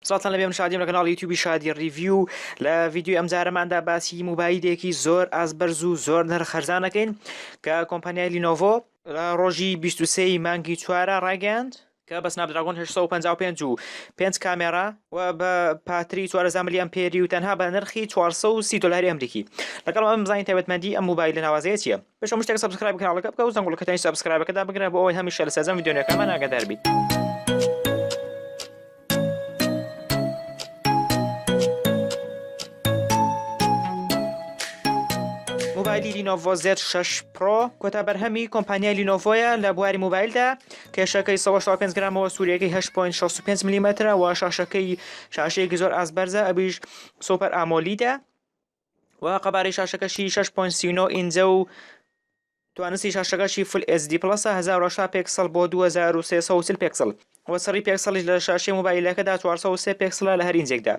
سڵاتان لەبێ من شادیم لە کەناڵی یوتیوبی شادی ریڤیو لە ڤیدیوی ئەمجارەماندا باسی موبایلێکی زۆر ئازبەرز و زۆر نرخەرزانەکەین کە کۆمپانیای لینۆڤۆ لە ڕۆژی 23 مانگی چوارە ڕایگەیاند کە بە سناپدراگۆن 855 و پێنج کامێرا و بە پاتری 14 ملی ئەمپێری و تەنها بە نرخی 430 دلاری ئەمریکی لەگەڵ ئەم بزانین تایبەتمەندی ئەم موبایلە ناوازەیە چییە پێش هەموو شتێک سەبسکرایب کاناڵەکە بکە و زەنگوڵەکەتانی سەبسکرایبەکە دابگرە بۆ ئەوەی هەمیشە لە سەرجەم ڤیدیۆ نوێکانمان ئاگادار بیت مۆبایلی لینۆڤۆ زێت 6 پرۆ کۆتا بەرهەمی کۆمپانیای لینۆڤۆیە لە بواری مۆبایلدا کێشەکەی 5 گرامەوە سووریەکەی 8.65 میلیمەترە و شاشەکەی شاشەیەکی زۆر ئاس بەرزە ئەبیش سوپەر ئامۆلیدا و قەبارەی شاشەکەشی 6.39 ئینجە و توانستی شاشەکەشی فل SD پڵەسە 1080 پێکسڵ بۆ 2340 پێکسڵ و سڕی پێکسڵیش لە شاشەی موبایلەکەدا 403 پێکسڵە لە هەر ئینجێکدا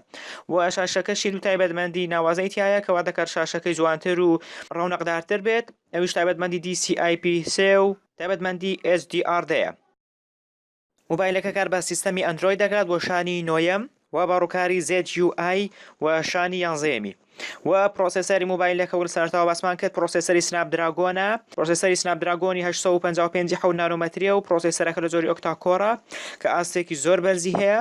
و شاشەکەشی دوو تایبەتمەندی ناوازەی تایە کەوا دەکات شاشەکەی جوانتر و ڕەونەقدارتر بێت ئەویش تایبەتمەندی DCI-P3 و تایبەتمەندی HDR دەیە مۆبایلەکە کار بە سیستەمی ئەندرۆید دەکات بۆ شانی نۆیەم و بە ڕووکاری ZUI و شانی یانزەیەمی و پرۆسێسەری مۆبایلەکە ول سەرتاوە باسمان کرد پرۆسێسەری سناپ دراگۆنە پرۆسێسەری سناپ دراگۆنی 855 حەوت نانۆمەتریە و پرۆسێسەرەکە لە جۆری ئۆکتا کۆرە کە ئاستێکی زۆر بەرزی هەیە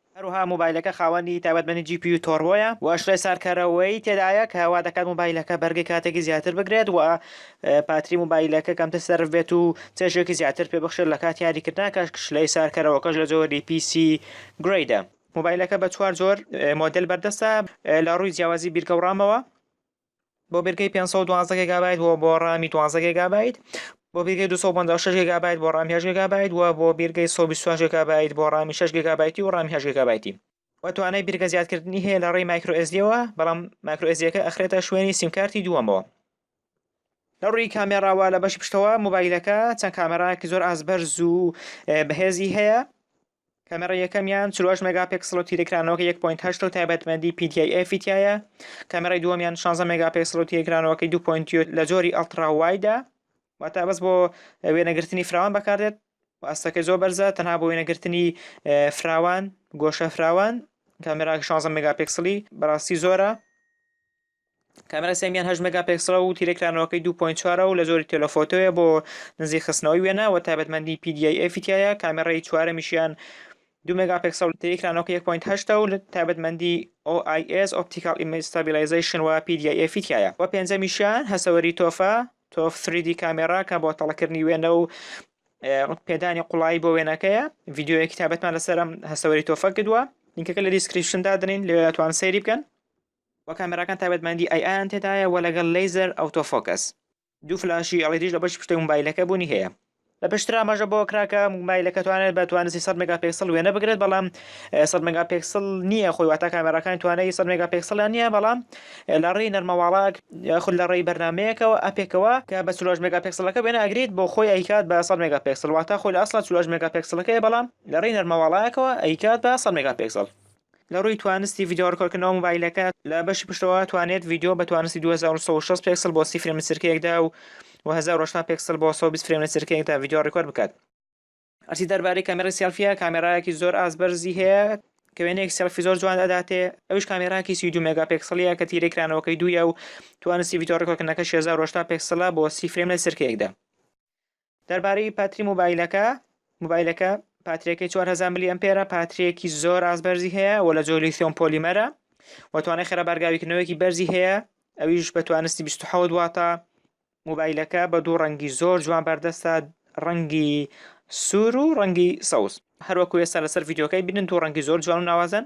هەروەها مۆبایلەکە خاوەنی تایبەتمەندی جی پی یو تۆربۆیە و شلەی ساردکەرەوەی تێدایە کە وادەکات مۆبایلەکە بەرگەی کاتێکی زیاتر بگرێت و پاتری مۆبایلەکە کەمتر سەرف بێت و چێژێکی زیاتر پێ بخشێت لە کاتی یاریکردنا کە شلەی ساردکەرەوەکەش لە جۆری پی سی گرەیدە. مۆبایلەکە بە چوار جۆر مۆدێل بەردەستە لە ڕووی جیاوازی بیرکە و ڕامەوە. بۆ بێرگەی 512 گێگابایت و بۆ ڕامی 12 گێگابایت بۆ بێرگەی 256 گێگابایت بۆ ڕامی 8 گێگابایت و بۆ بێرگەی 128 گێگابایت بۆ ڕامی 6 گێگابایتی و ڕامی 8 گێگابایتی و توانای بێرگە زیادکردنی هەیە لە ڕێی مایکرۆ ئێسدیەوە بەڵام مایکرۆ ئێسدیەکە ئەخرێتە شوێنی سیمکارتی دووەمەوە لە ڕووی کامێراوە لە بەشی پشتەوە موبایلەکە چەند کامێراکی زۆر ئاست بەرز و بەهێزی هەیە کامێڕای یەکەمیان چل و هەشت مێگاپێکسڵ و تیرەکرانەوەکە یەک پۆینت هەشت و تایبەتمەندی PTIF ی تیایە، کامێڕای دووەمیان شانزە مێگاپێکسڵ و تیرەکرانەوەکەی دوو پۆینت یو لە جۆری ئەڵتڕا وایدە، واتە بەس بۆ وێنەگرتنی فراوان بەکاردێت و ئاستەکەی زۆر بەرزە، تەنها بۆ وێنەگرتنی فراوان، گۆشە فراوان، کامێرا شانزە مێگاپێکسڵی بەڕاستی زۆرە. کامێرای سێیەمیان هەشت مێگاپێکسڵە و تیرەی کرانەوەکەی دوو پۆینت چوارە و لە جۆری تێلۆفۆتۆیە بۆ نزیک خستنەوەی وێنە و تایبەتمەندی پی دی ئای ئێفی تیایە، کامێرای چوارەمیشیان دوو مێگاپێکسڵە و تیرەی کرانەوەکەی یەک پۆینت هەشتە و تایبەتمەندی ئۆ ئای ئێس، ئۆپتیکاڵ ئیمەیج ستابیلایزەیشن، و پی دی ئای ئێفی تیایە و پێنجەمیشیان هەسەوەری تۆفە، تۆف سری دی کامێرا، کە بۆ تەڵەکردنی وێنە و پێدانی قوڵایی بۆ وێنەکەیە، ڤیدیۆیەکی تایبەتمان لەسەر ئەم هەسەوەری تۆفە کردووە، لینکەکە لە دیسکریپشن دادەنێین لەوێ ئەتوانن سەیری بکەن. و کامێراکان تایبەتمەندی ئای ئایان تێدایە و لەگەڵ لەیزەر ئەوتۆ فۆکەس. دوو فلاشی ئێڵیدیش لە بەشی پشتەوەی موبایلەکە بوونی هەیە. لە پێشتر ئاماژە بەوە کرا کە موبایلەکە توانێت بە توانستی سەد مێگاپێکسڵ وێنە بگرێت بەڵام سەد مێگاپێکسڵ نییە خۆی واتە کامێراکانی توانای سەد مێگاپێکسڵیان نییە بەڵام لە ڕێی نەرمەواڵە یاخود لە ڕێی بەرنامەیەکەوە ئەپێکەوە کە بە چلۆش مێگاپێکسڵەکە وێنە ئەگرێت بۆ خۆی ئەیکات بە سەد مێگاپێکسڵ واتە خۆی لە ئەسڵا چلۆش مێگاپێکسڵەکەیە بەڵام لە ڕێی نەرمەواڵایەکەوە ئەیکات بە سەد مێگاپێکسڵ لە ڕووی توانستی ڤیدیۆ ڕکۆردکردنەوە مۆبایلەکە، لە بەشی پشتەوە ئەتوانێت ڤیدیۆ بە توانستی دوو هەزار و سەد و شەست پێکسڵ بۆ سی فرێم لە چرکەیەکدا و و هەزار و هەشتا پێکسڵ بۆ سەد و بیست فرێم لە چرکەیەکدا ڤیدیۆ ڕیکۆرد بکات. هەرچی دەربارەی کامێرای سێڵفییە، کامێرایەکی زۆر ئاست بەرزی هەیە کە وێنەیەک سێڵفی زۆر جوان ئەداتێ، ئەویش کامێرایەکی سی و دوو مێگاپێکسڵییە کە تیرەی کرانەوەکەی دوویە و توانستی ڤیدیۆ ڕیکۆردکردنەکەشی هەزار و هەشتا پێکسڵە بۆ سی فرێم لە چرکەیەکدا. دەربارەی پاتری موبایلەکە موبایلەکە پاتریەکەی 4000 ملی ئەمپێرە پاتریەکی زۆر ئاز بەرزی هەیە و لە جۆلی ثۆم پۆلیمەرە و توانای خێرا بارگاویکردنەوەیەکی بەرزی هەیە ئەویش بە توانستی 27 واتە موبایلەکە بە دوو ڕەنگی زۆر جوان بەردەستە ڕەنگی سوور و ڕەنگی سەوز هەروەکو ئێستا لەسەر ڤیددیوکەی بینن دوو ڕەنگی زۆر جوان و ناوازەن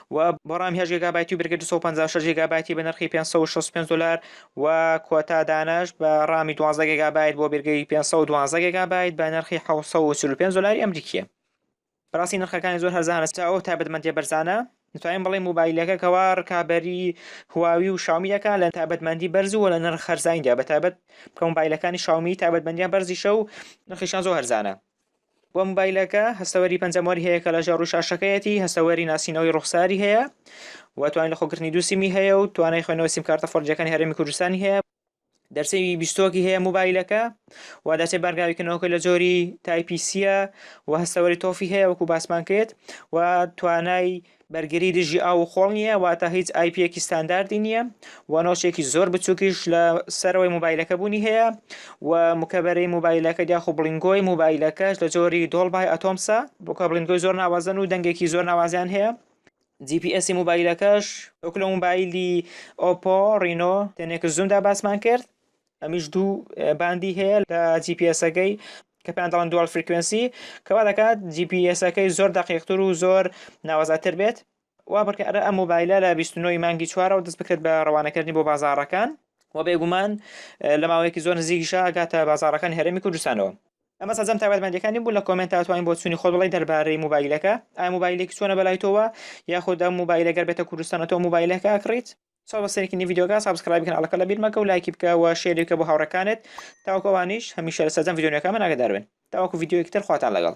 و بۆ ڕام هەشت گێگابایتی و برگە دوو سەد و پەنجا و شەش گێگابایتی بە نرخی پێنج سەد و شەست و پێنج دۆلار و کۆتا دانەش بە ڕامی دوازدە گێگابایت بۆ برگەی پێنج سەد و دوازدە گێگابایت بە نرخی حەوت سەد و چل و پێنج دۆلاری ئەمریکییە بەڕاستی نرخەکانی زۆر هەرزانە تا ئەو تایبەتمەندیە بەرزانە دەتوانین بڵێ موبایلەکە کەوا ڕکابەری هواوی و شاومی دەکات لە تایبەتمەندی بەرز و لە نرخ خەرزانیدا بە تایبەت کە موبایلەکانی شاومی تایبەتمەندیان بەرزیشە و نرخیشان زۆر هەرزانە و موبایلەکە هەستەوەری پەنجەمۆری هەیە کە لەژێر ڕووی شاشەکەیەتی هەستەوەری ناسینەوەی ڕوخساری هەیە و توانای لەخۆگرتنی دوو سیمی هەیە و توانای خوێنەوەی سیمکارتە فۆرجەکانی هەرێمی کوردستانی هەیە دەرچەی بیستۆکی هەیە موبایلەکە و دەرچەی بارگاویکردنەوەکە لە جۆری تایپیسیە و هەستەوەری تۆفی هەیە وەکو باسمان کرد و توانای بەرگری دژی ئاو و خۆڵ نییە واتە هیچ ئایپیەکی ستانداردی نییە و نۆچێکی زۆر بچووکیش لە سەرەوەی موبایلەکە بوونی هەیە و مکەبەری موبایلەکە یاخو بڵینگۆی موبایلەکەش لە جۆری دۆڵبای ئەتۆمسە بۆکە بڵینگۆی زۆر ناوازەن و دەنگێکی زۆر ناوازیان هەیە جی پی ئێسی موبایلەکەش وەکو لە موبایلی ئۆپۆ ڕینۆ تێنێکس زومدا باسمان کرد ئەمیش دوو باندی هەیە لە جی پی ئێسەکەی کە پێیان دەڵێن دووەڵ فریکوێنسی کەوا دەکات جی پی ئێسەکەی زۆر دەقیقتر و زۆر ناوەزاتر بێت وا بکە ئەرە ئەم مۆبایلە لە 29 مانگی چوارەوە دەست بکرێت بە ڕەوانەکردنی بۆ بازارەکان و بێگومان لە ماوەیەکی زۆر نزیکیشە گاتە بازارەکان هەرێمی کوردستانەوە ئەمە سەرجەم تایبەتمەندەکانی بوو لە کۆمنت تاتوانین بۆ چووی خۆت بڵی دەربارەی موبایلەکە ئای موبایلێکی چۆنە بەلای تۆوە یاخود ئەم موبایلە گەر بێتە کوردستانەوە موبایلەکە کڕیت سەڵ بە سەرێکی نی ڤیدیۆکە سابسکرایبی کەناڵەکە لە بیر مەکە و لایکی بکە و شێری بکە بۆ هاوڕێکانت تاوەکو ئەوانیش هەمیشە لە سەرجەم ڤیدیۆنەکە من ئاگادار بن تاوەکو ڤیدیۆیەکی تر خواتان لەگەڵ